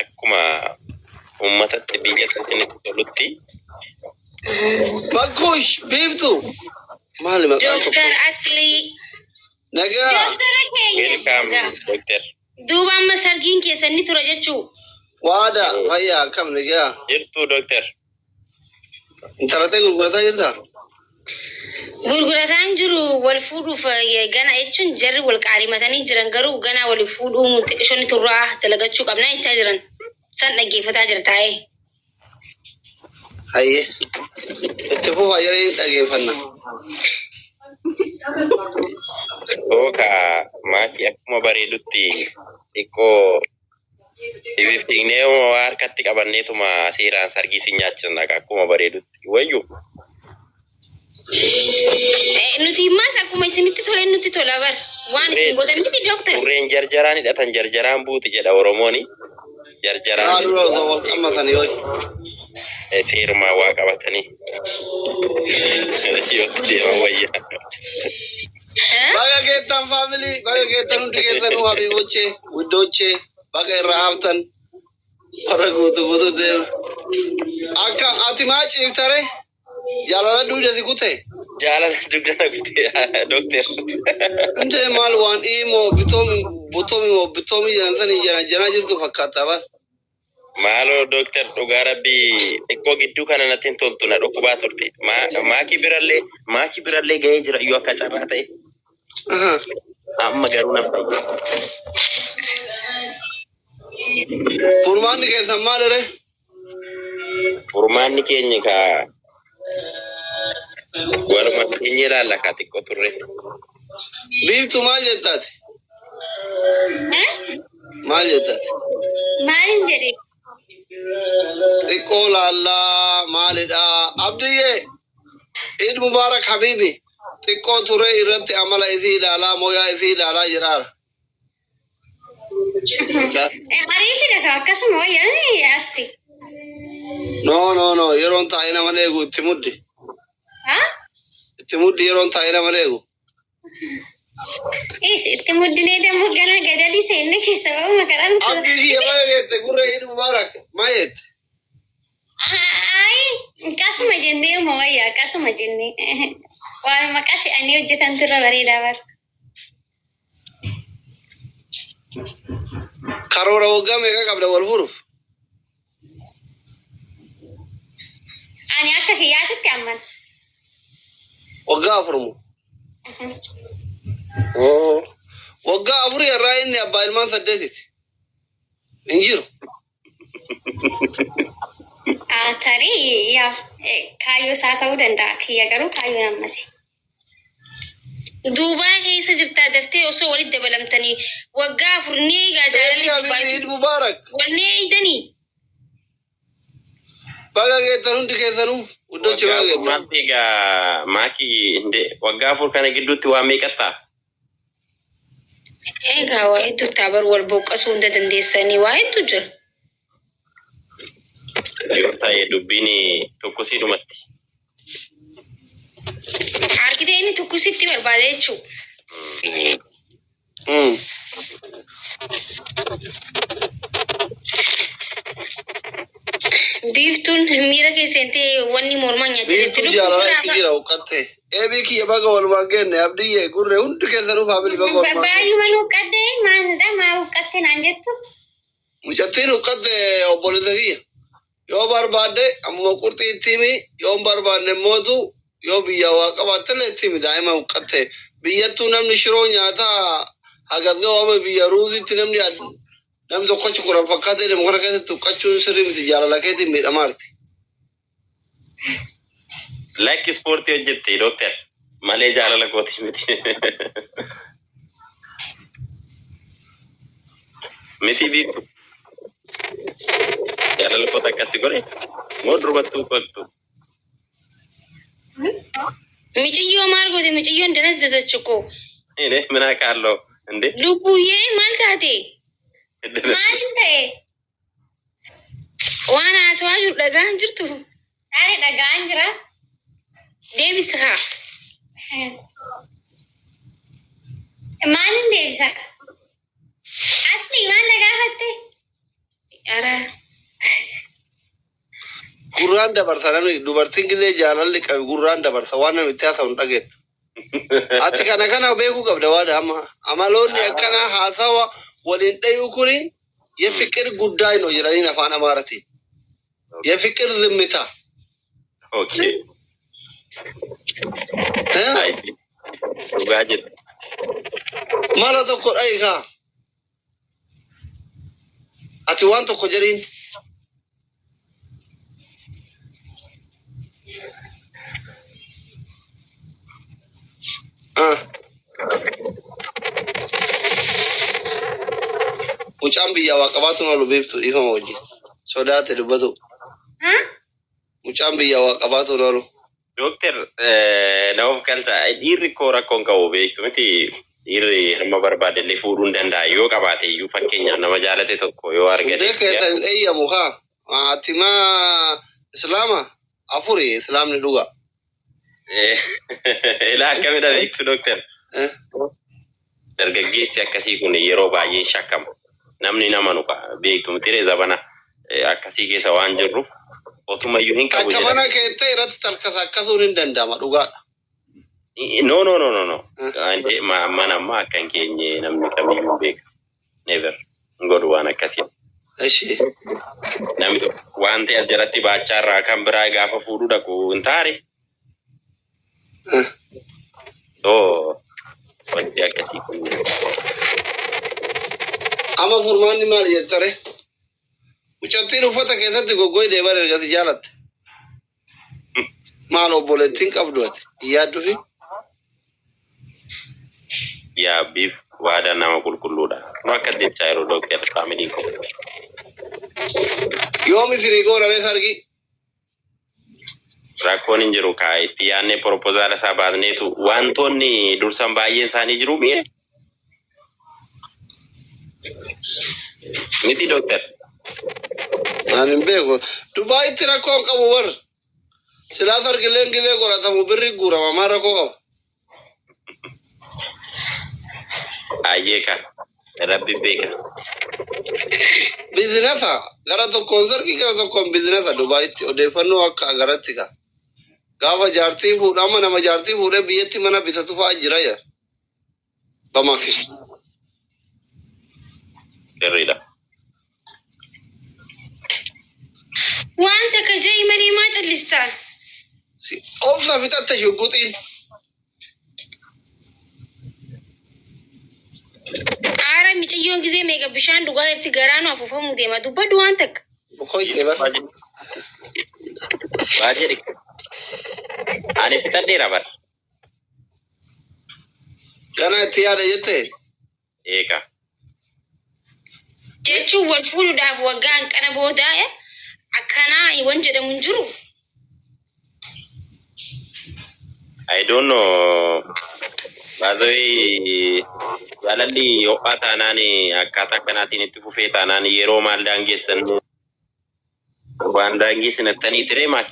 akkuma uummatatti biyya kanatti itti tolutti Bakkuush biiftu maali maqaan tokko Dooktar Aslii. nagaa Dooktara keenya. weelkaam Nagaa. doktar Duuba amma sargiin keessan ni tura jechuu. waada fayyaa akkam nagaa jirtuu doktar Intala ta'e gurgurataa jirtaa? Gurgurataan jiru wal fuudhuuf eh, gana jechuun jarri wal qaalimatanii jiran garuu ganaa wal fuudhuun xiqishoonni turraa dalagachuu qabna jechaa jiran. San dhaggeeffataa jira taa'ee. Hayyee. Itti fufaa yeroo hin dhageeffanna. Tooka maatii akkuma bareedutti xiqqoo Sibiif dhignee uma waa harkatti qabanneetuma seeraan sargii si nyaachisna akkuma bareedutti wayyu. Eh, Nuti immaas akkuma isinitti tole nutti tola bar. Waan isin gootan miti dooktar. Burreen jarjaraan hidhatan jarjaraan buuti jedha Oromooni. Jarjaraan Haaluu osoo wal qammatan yoo eh, seerumaa waa qabatanii. Yoo deeman wayya. Baga geettan faamilii, baga geettan hundi keessanuu habiibochee, guddoochee, baga irraa haftan, warra guutu guutu deema. Akka ati maa ciiftare jaalala duude si kute. Jaalala dugda na kutee dokteer. Hundee maal waan dhiimoo bitoomi butoomi moo bitoomi jedhan sanii jana janaa jirtu fakkaata bara. Maaloo Dooktar dhugaa rabbii xiqqoo gidduu kana natti hin toltu na dhukkubaa turte. Ma- Maakii birallee maakii birallee gahee jira iyyuu akka carraa ta'e. Amma garuu na fayye. Furmaanni keessan maaliree? Furmaanni keenya kaa Waluma keenya ilaalla kaa xiqqoo turre. Biiftu maal jettaati? Maal jettaati? Maalin jedhe? Xiqqoo laallaa maalidha? Abdiyyee Eid Mubaarak Habiibi xiqqoo turee irratti amala isii ilaalaa mooyaa isii ilaalaa jiraara. Ariifi dhaga akkasuma wayyaanii asti. No no no yeroon taa'ee nama eegu itti muddi. Itti muddi yeroon taa'ee nama eegu. Is itti muddinee dammoo gana gadadii seenne keessa ba'u makaraan. Abdii kiyya maal jette gurra Eid Mubarak maal jette? Ayi qasuma jennee uma wayyaa qasuma jennee. Waan maqaa se'anii hojjetantu irra bareedaa bara. Karoora waggaa meeqa qabda wal furuuf? Ani akka kiyyaatitti amman. Waggaa afur moo? Oo. Waggaa afurii irraa inni abbaa ilmaan saddeetiiti. Hin jiru. Ah, Tarii yaaf eh, kaayyoo isaa ta'uu danda'a. Kiyya garuu kaayyoon ammasi. Duubaa keessa jirtaa daftee osoo walitti dabalamtanii waggaa afur ni eegaa Eebii jaalalli Habibi Duubaayi. Eid Mubarak. Wal ni eeydanii? Baga geettan hundi keessanuu. Uddochi Waggaa baga afur geettan. maaltu egaa maaki hinde waggaa afur kana gidduutti waa meeqattaa? Eegaa waa hedduu taa bar wal boqqasuu hunda dandeessanii waa hedduu jira. Yoo ta'e dubbiin tokkosii dhumatti. Argitee inni tokkositti barbaada jechuudha. Mm. Biiftuun miira keessa hin ta'e wanni mormaa nyaachaa jirti. Biiftuu jaalala itti Lubbuun jira huqqatte. Eebii kiyya baga walumaan genne abdiyyee gurre hundi keessanuu faamilii baga walumaan genne. Baay'uma huqqattee maalidha maa huqqatte naan jettu. Mucattiin huqqatte obboleessa kiyya. Yoo barbaadde ammuma qurxii itti himi, yoo hin barbaadne immoo tu yoo biyyaa waa qabaattellee itti himi daa'ima huqqatte. Biyyattuu namni shiroo nyaataa hagas ga'u amma biyya ruuziitti namni ad- namni tokkochi kudhan fakkaatee deemu kana keessatti huqqachuun sirrii miti jaalala keetiin miidhamaarti. Lakki ispoortii hojjetti dooktar malee jaalala kootii miti. Miti biitu jaalala koota akkasi godhe moo durbattuu kottu. Miciyyoo maal goote miciyyoon danas dasachu koo. Ine minaa kaalloo inde Lubbuyyee maal taate? maal ta'e? Waan haasawaa jiru dhagaan jirtu. Ani dhagaan jira. Deebisa haa. Maalin deebisa? Asli maal na gaafatte? Araa. Gurraan dabarsa namni dubartiin gizee jaalalli qabi gurraan dabarsa waan namni itti haasa'u hin dhageettu. Ati kana kana beekuu qabda waan amma amaloonni akkanaa haasawa waliin dhayuu kuni yefiqir guddaa hin hojjetaniin afaan amaaratiin. Yefiqir zimmita. Okay. Eh? Dhugaa jedhu. Mala tokko dhayi kaa. Ati waan tokko jedhiin. Ah. Mucaan biyyaa waa qabaatu malu beektu dhiifama wajjin. Sodaate dubbatu. Mucaan biyyaa waa qabaatu malu. Dooktar na of galta dhiirri koo rakkoon qabu beektu miti dhiirri hamma barbaade illee fuudhuu hin danda'a yoo qabaate iyyuu fakkeenyaaf nama jaalate tokko yoo argate. Hundee keessa hin eeyyamu kaa maatimaa islaama afuri islaamni dhugaa. Ilaa akkamidha beektu dooktar. Dargaggeessi akkasii kun yeroo baay'ee hin shakkamu. Namni hin amanu ka. Beektu mitiree zabana eh, akkasii keessa waan jirruuf otumayyuu hin qabu Takka mana jedhanii. kee ta'e irratti talkasa akkasuun hin danda'ama dhugaadha. No, no, no, no, no. Eh, Waan ta'e ma- mana ammaa akka hin keenye namni kamiyyuu beeka. never hin godhu waan akkasii. Eshi. Namni tokko wanti as jalatti baachaa irraa kan biraa gaafa fuudhuu dhaqu hin taane. So wanti akkasii kun Amma furmaanni maal jettare? Mucattiin uffata keessatti goggoy deeman ergasi jaalatte. Maal obboleettiin qabdu ati hin yaaddufi? Yaa biif waadaa nama qulqulluudha. Nu akka jechaa yeroo dooktar faamiliin koo. Yoomi firii goona ree sargii? Rakkoon hin jiru kaa itti yaadnee propozaala isaa baasneetu wantoonni dursan baay'een isaanii jiru mi'e Miti doktar. Ani hin beeku. Dubaayitti rakkoo hin qabu bar. Silaa sargilleen gizee qoratamu birri guurama maa rakkoo qaba. Ayyee ka. Rabbi beeka. Bizinasa gara tokkoon sargii gara tokkoon bizinasa Dubaayitti odeeffannoo akka agaratti ka. Gaafa jaartii fuudhu amma nama jaartii fuudhee biyyatti mana bitatu fa'aa jira yaa. Dhamaf is sirriidha. Waan takka ja'i malee maa callista? Si- Obsa fixatte shugguxiin. Aara miciyyoon gisee meeqa bishaan dhugaa irratti garaanu afuufamuu deema. Dubbadhu waan takka. Boqoyte bar. Baay'ee dhiqe. Ani fixadheera bara. Kana itti yaada jette? Eega. Jechuun wal fuudhuudhaaf waggaa hanqana booda akkanaa wan jedhamu hin jiru. I don't know. Baazawee jaalalli ho'aa taanaan akkaataa kanaatiin itti fufee taanaan yeroo maal daangeessan Waan daangee sinattanii tiree maal?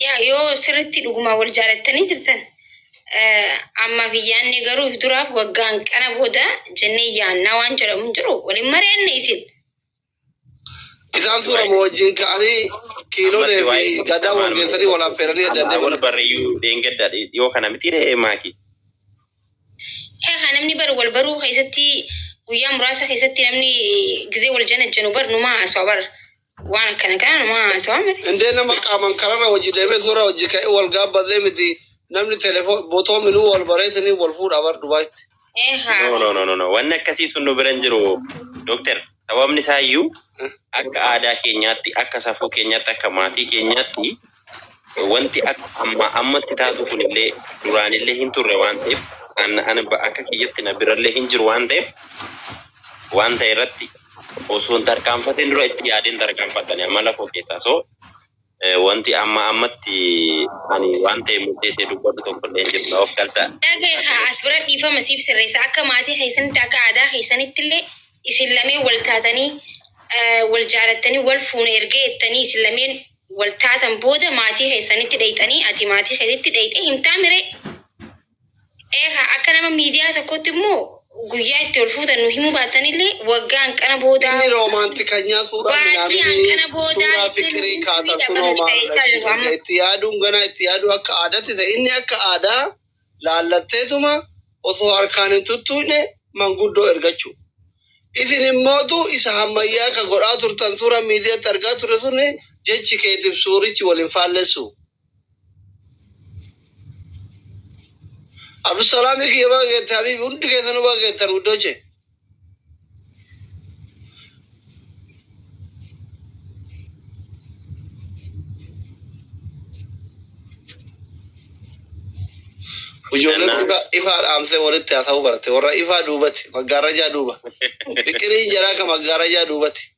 Yaa yoo sirriitti dhugumaa wal jaalattanii jirtan ammaaf hin yaadne garuu if duraaf waggaan kana booda jennee yaannaa waan jedhamu hin jiru waliin mari'anne isin. Isaan suura moo wajjin ka'anii kiilolee fi gadaa wal geessanii wal affeeranii adda Wal adda barreeyyuu dheengaddaa yoo kana miti ree maaki. Kaa kaa namni bar wal baruu keessatti guyyaa muraasa keessatti namni gizee wal janajjanu bar numaa haasawaa bar waan akkana kana numaa haasawaa miti. Indee nama qaaman kararra hojii deemee suuraa hojii ka'ee wal gaabbatee miti namni telefoon botoo minuu wal bareetanii wal fuudhaa bar Dubaayitti. Ee No, haa. no, no, no, no. Wanni akkasii sun nu bira hin jiru. Doktar, sababni isaa iyyuu akka aadaa keenyaatti, akka safuu keenyaatti, akka maatii keenyaatti wanti akka ammaa ammatti taatu kunillee duraanillee hin turre waan ta'eef an an ba- akka kiyyatti na birallee hin jiru waan ta'eef waan ta'e irratti osoo hin tarkaanfatin dura itti yaadeen tarkaanfadhani amala koo keessaa so eh, wanti amma ammatti ani waan ta'e murteessee dubbadhu tokkollee hin jiru na of galta Dhaga haa as bira dhiifama siif sirreessa akka maatii keessanitti akka aadaa keessanitti illee isin lameen wal taatanii eh, wal jaalattanii wal fuuna erga jettanii isin lameen wal taatan booda maatii keessanitti dhayxanii ati maatii keetitti dhayxee himtaa miree eegaa akka nama miidiyaa tokkotti immoo guyyaa itti ol fuutan nu himuu baatanillee waggaa hanqana boodaa Inni roomaantikanyaa suuraa Baay'ee midhaanii hanqana boodaa suuraa itti fiqirii nuuf kaata hidha kunoo banuuf maal ta'ee jira. agarsiifadha. Itti yaaduun ganaa itti yaaduu akka aadaatti ta'e inni akka aadaa laallatteetuma osoo harkaan hin tuttuuyne manguddoo ergachuu. Isin immootu isa hammayyaa ka godhaa turtan suuraa miidiyatti argaa turre sun jechi keetiif suurichi wal hin faallessu. Abdusalaamii kiyya baga geette habiibi hundi keessanuu baga geettan wuddoche. Ijoollee Nana. gurguddaa ifaa dhaamsee walitti haasa'uu barte. Warra ifaa duubatti, maggaarrajaa duuba. Fiqiriin jaraa kan maggaarrajaa duubatti.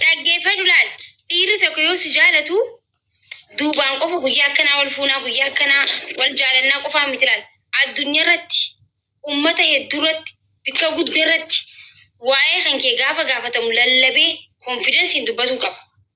Dhaggeeffadhu laal. Dhiirri tokko yoo si jaalatu duubaan qofa guyyaa akkanaa wal fuunaa guyyaa akkanaa wal jaalannaa qofaa miti laal. Addunyaa irratti uummata hedduu irratti bakka guddaa irratti waa'ee kan kee gaafa gaafatamu lallabee konfidensiin dubbatuu qaba.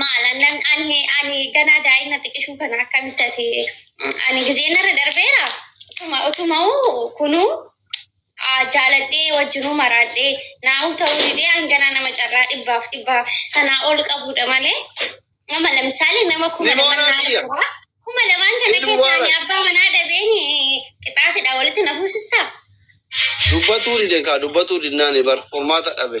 Maal annan ani ani ganaa daa'ima xiqishuu kana akkamitti ati ani gizeen irra darbeera utuma utuma'u kunuu ah, jaaladhee wajjinuu maraadhee naa'u ta'uu didee hanganaa nama carraa dhibbaaf dhibbaaf sanaa ol qabuudha malee nama lamsaale nama kuma Ni lamaan moonaa naaf biyya. jira. kuma lamaan kana Ilmi keessaa ani waaqa. abbaa manaa dhabeen qixaatidha walitti na fuusistaa. Dubbatuu dide kaa dubbatuu dinnaan bar furmaata dhabe.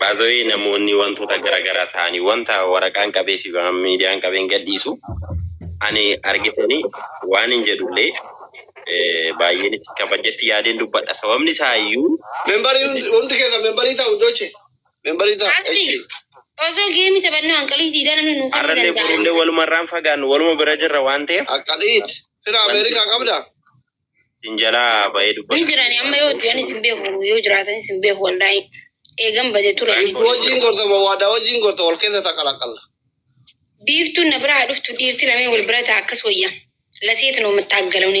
Baazawee namoonni wantoota garaagaraa ta'anii wanta waraqaan qabee fi miidiyaan qabeen gadhiisu ani argitanii waan hin jedhullee eh, baay'een itti kabajatti yaadeen dubbadha. Sababni isaa iyyuu Membarii hundi hundi keessa membarii ta'u doche. Membarii ta'u. Ati Eshi. osoo geemi taphannoo hanqalii diidaa namni nuuf hin har'allee danda'amu. borullee walumarraan fagaannu waluma bira jirra waan ta'eef Akkaliit. Fira Ameerikaa qabda. Isin jalaa ba'ee Hin dubbata. jirani amma yoo du'anis hin beeku yoo jiraatanis hin beeku wallaahi. Eegan bade ture. Wajjin gorta moo waadaa wajjin gorta wal keessa taqalaqalla. Biiftuun na biraa dhuftu dhiirti lamee wal bira ta'a akkas wayya. Laseetin omattaaggalawni